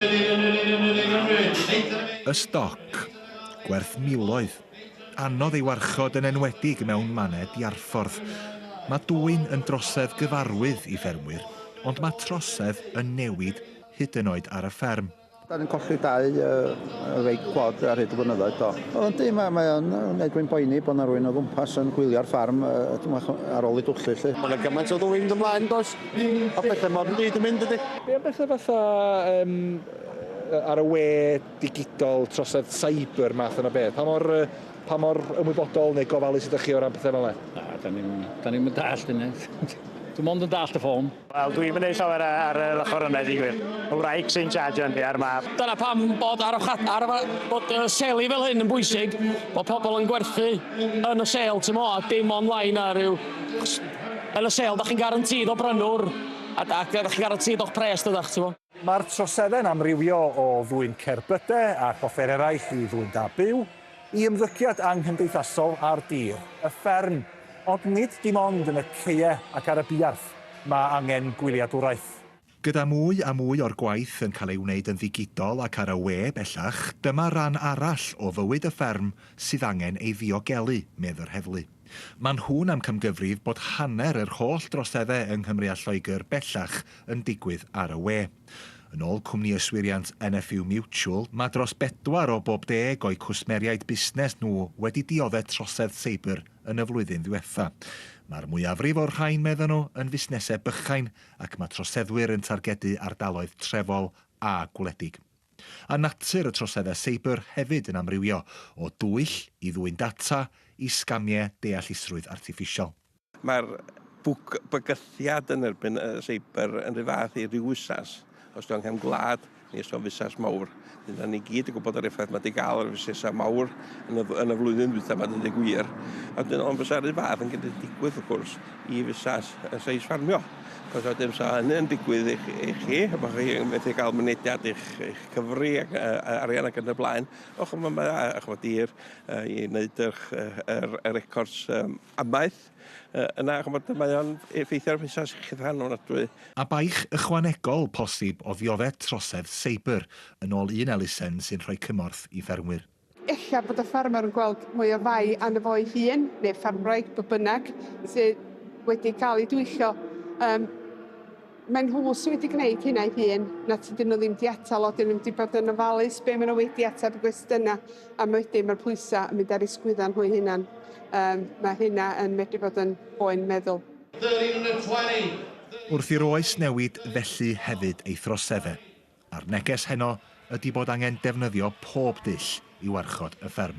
Y stoc, gwerth miloedd, anodd ei warchod yn enwedig mewn mannau diarffordd. Mae dwyn yn drosedd gyfarwydd i ffermwyr, ond mae trosedd yn newid hyd yn oed ar y fferm. Dan ni'n colli dau wraig gwlad ar hyd y blynyddoedd do. O yndi, mae mae o'n wneud fi'n boeni bod 'na rywun o gwmpas yn gwylio'r ffarm yy tymach ar ôl ei dwll hi 'lly. Ma' 'na gymaint o ddwyn yn dy mlaen does? Popeth yn modern byd yn mynd dydi? Be am betha fatha yym ar y we digidol, trosedd cyber, math yna beth? Pa mor yy pa mor ymwybodol neu gofalus ydych chi o ran petha fel 'na? Na, 'dan ni'm 'dan ni'm yn dallt hynna. Dwi mond yn dallt y ffôn. Wel dwi'm yn neud llawer yy ar yr ochor yna i ddeu gwir. Ma' wraig sy'n charjio yndi a'r mab. Dyna pam bod arwchad- arwra- bod yy seli fel hyn yn bwysig, bod pobl yn gwerthu yn y sêl tu mo a dim online a ryw Yn y sale, dach chi'n garantîd o brynwr a da- dach chi'n garantîd o'ch pres, dydach, ti 'bo? Mae'r troseddau'n amrywio o ddwyn cerbydau ac offer eraill i ddwyn da byw, i ymddygiad anghymdeithasol ar dir, y fferm, ond nid dim ond yn y caeau ac ar y buarth mae angen gwyliadwraeth. Gyda mwy a mwy o'r gwaith yn cael ei wneud yn ddigidol ac ar y we bellach, dyma ran arall o fywyd y fferm sydd angen ei ddiogelu, medd yr heddlu. Maen nhw'n amcamgyfrif bod hanner yr holl droseddau yng Nghymru a Lloegr bellach yn digwydd ar y we. Yn ôl cwmni yswiriant NFU Mutual, mae dros bedwar o bob deg o'u cwsmeriaid busnes nhw wedi diodde' trosedd seibr yn y flwyddyn ddiwetha'. Mae'r mwyafrif o'r rhain, medden nhw, yn fusnesau bychain ac mae troseddwyr yn targedu ardaloedd trefol a gwledig. A natur y troseddau seibr hefyd yn amrywio, o dwyll i ddwyn data i sgamiau deallusrwydd artiffisial. Mae'r bygythiad yn erbyn y seibr yn rhyw fath i ryw fusnes, os ti angen gwlad, Nes am fusnes mawr. Dyna ni gyd yn gwybod yr effaith mae wedi cael ar y fusnesau mawr yn y, yn y flwyddyn ddwytha mae wedi gwir. A dyn, ond fysa rhyw fath yn gallu digwydd, wrth gwrs, i fusnes y seis ffarmio. Cos a dim sa hynny yn digwydd i, i chi, a bod chi'n methu cael mynediad i'ch, eich cyfri ac uh, arian ac yn y blaen. Och, mae, mae, ych bod i'r, uh, i wneud yr, yr, yr records um, amaeth. Yy yna ch'mod mae o'n effeithio ar fusnas iechyd rhan ofnadwy. A baich ychwanegol posib o ddiodde trosedd seibr, yn ôl un elusen sy'n rhoi cymorth i ffermwyr. Ella bod y ffermwr yn gweld mwy o fai arno fo'i hun, neu'r ffermwraig, beth bynnag, sydd wedi cael ei dwyllo. Yym. Mae nhw sy wedi gwneud hyn a'i hun, na tydyn nhw ddim 'di atal o, 'dyn nhw ddim 'di bod yn ofalus be' ma' nhw wedi ateb y gwestiyna', a wedyn ma'r pwysa' yn mynd ar eu sgwydda nhw'u hunan. Yym, ma' hynna yn medru bod yn boen meddwl. Wrth i'r oes newid felly hefyd ei throsedd e, a'r neges heno ydi bod angen defnyddio pob dull i warchod y fferm.